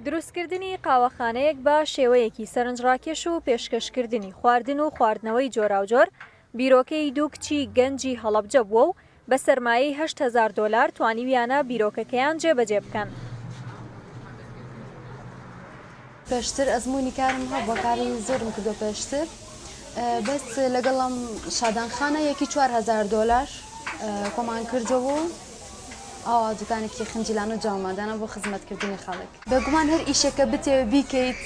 دروستکردنی قاوەخانەیەک بە شێوەیەکی سەرنجڕاکێش و پێشکەشکردنی خواردن و خواردنەوەی جۆراوجۆر بیرۆکەی دوو کچی گەنجی هەڵەبجە بووە و بە سەرمایەی هەشت هەزار دۆلار توانیویانە بیرۆکەکەیان جێبەجێ بکەن. پێشتر ئەزمونی کارم هەبوە کاری زۆرم کردوە پێشتر بەس لەگەڵم شادان خانە یەکی 4هزار دۆلار کۆمان کردەوە و ئاوا دوکانێکی خنجیلان و جامادانە بۆ خزمەتکردنی خەڵک بەگومان هەر ئیشێکە بتێ بیکەیت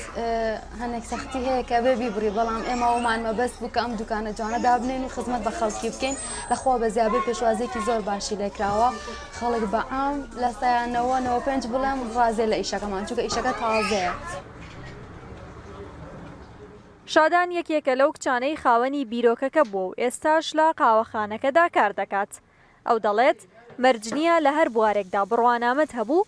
هەنێک سەختی هەیە کە بێ بیبڕی بەڵام ئێمە ومان مەبەست بوو کە ئەم دوکانە جوانە دابنین و خزمەت بە خەڵکی بکەین لەخوا بە زیابێ پێشوازێکی زۆر باشی لێکراوە خەڵک بە عام لە سایان نەوە نەوە پێنج بڵێم ڕازێ لە ئیشەکەمان چونکە ئیشەکە تازەیە. شادان یەکێکە لەو کچانەی خاوەنی بیرۆکەکە بووە و ئێستاش لە قاوەخانەکەدا کار دەکات. ئەو دەڵێت، مەرج نییە لە هەر بوارێکدا بڕوانامەت هەبوو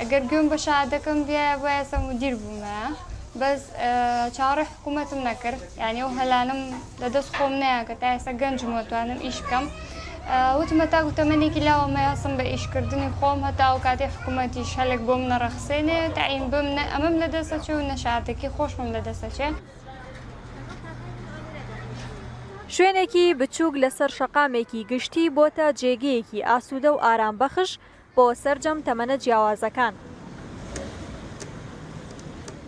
ئەگەر گوێم بە شەهادەکەم بیایە با ئێستا مودیر بوومایە بەس چاوەڕێ حکوومەتم نەکرد یانی ئەو هەلانم لە دەست خۆم نەیە کە تا ئێستا گەنجم وەتوانم ئیش بکەم وتمە تاکو تەمەنێکی لاوەمە هەستم بە ئیشکردنی خۆم هەتا ئەو کاتی حکوومەتی شەلێک بۆم نەڕەخسێنێ تایم بم نە ئەمەم لە دەستە چێ و نەشادەکی خۆشمم لە دەستە چێ. شوێنێکی بچووک لەسەر شەقامێکی گشتی بۆتە جێگەیەکی ئاسوودە و ئارامبەخش بۆ سەرجەم تەمەنە جیاوازەکان.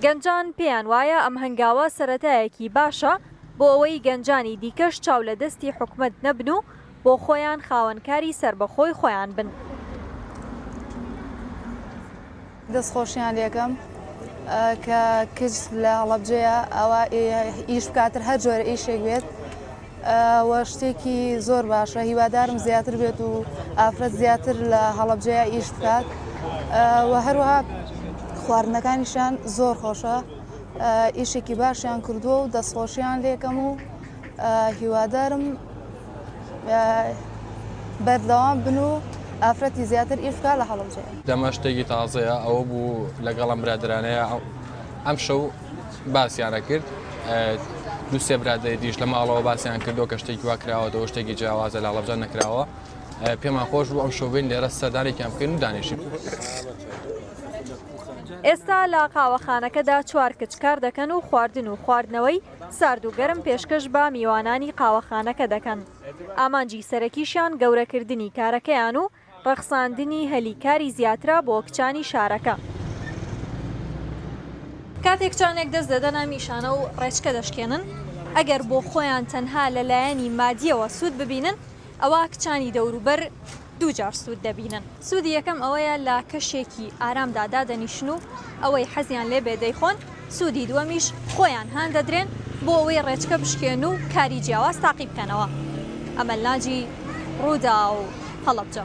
گەنجان پێیان وایە ئەم هەنگاوە سەرەتایەکی باشە بۆ ئەوەی گەنجانی دیکەش چاو لە دەستی حکومەت نەبن و بۆ خۆیان خاوەن کاری سەربەخۆی خۆیان بن. دەست خۆشیان لێکەم کە کچ لە هەڵەبجەیە ئەوە ئیش بکاتر هەر جۆرە ئیشێک بێت وە شتێکی زۆر باشە هیوادارم زیاتر بێت و ئافرەت زیاتر لە هەڵەبجەیە ئیش بکات و هەروەها خواردنەکانیشان زۆر خۆشە ئیشێکی باشیان کردووە و دەستخۆشیان لێکەم و هیوادارم بەردەوام بن و ئافرەتی زیاتر ئیش بکە لە هەڵەبجەیە. دەمە شتێکی تازەیە ئەوە بوو لەگەڵ ئەم برادرانەیە ئەم شەو باسییانە کرد دو سێ برادری دیش لە ماڵەوە باسییان کردو کە شتێکی وا کراوەەوە شتێکی جیاوازە لە هەڵەبجان نەکراوە پێمان خۆش بوو ئەم شوبین لێرە سەردانێکیان بکەین و دانیشین. ئێستا لە قاوەخانەکەدا چوار کچ کار دەکەن و خواردن و خواردنەوەی سارد و گەرم پێشکەش بە میوانانی قاوەخانەکە دەکەن، ئامانجی سەرەکیشیان گەورەکردنی کارەکەیان و ڕەخساندنی هەلی کاری زیاترە بۆ کچانی شارەکە. کاتێک کچانێک دەست دەدەنە میشانە و ڕێچکە دەشکێنن، ئەگەر بۆ خۆیان تەنها لە لایەنی مادییەوە سوود ببینن، ئەوا کچانی دەوروبەر، دوو جار سوود دەبینن. سوودی یەکەم ئەوەیە لە کەشێکی ئارامدا دادەنیشن و ئەوەی حەزیان لێ بێ دەیخۆن، سوودی دووەمیش خۆیان هان دەدرێن بۆ ئەوەی ڕێچکە بشکێن و کاری جیاواز تاقی بکەنەوە. ئەمەلناجی، رووداو، هەڵەبجە.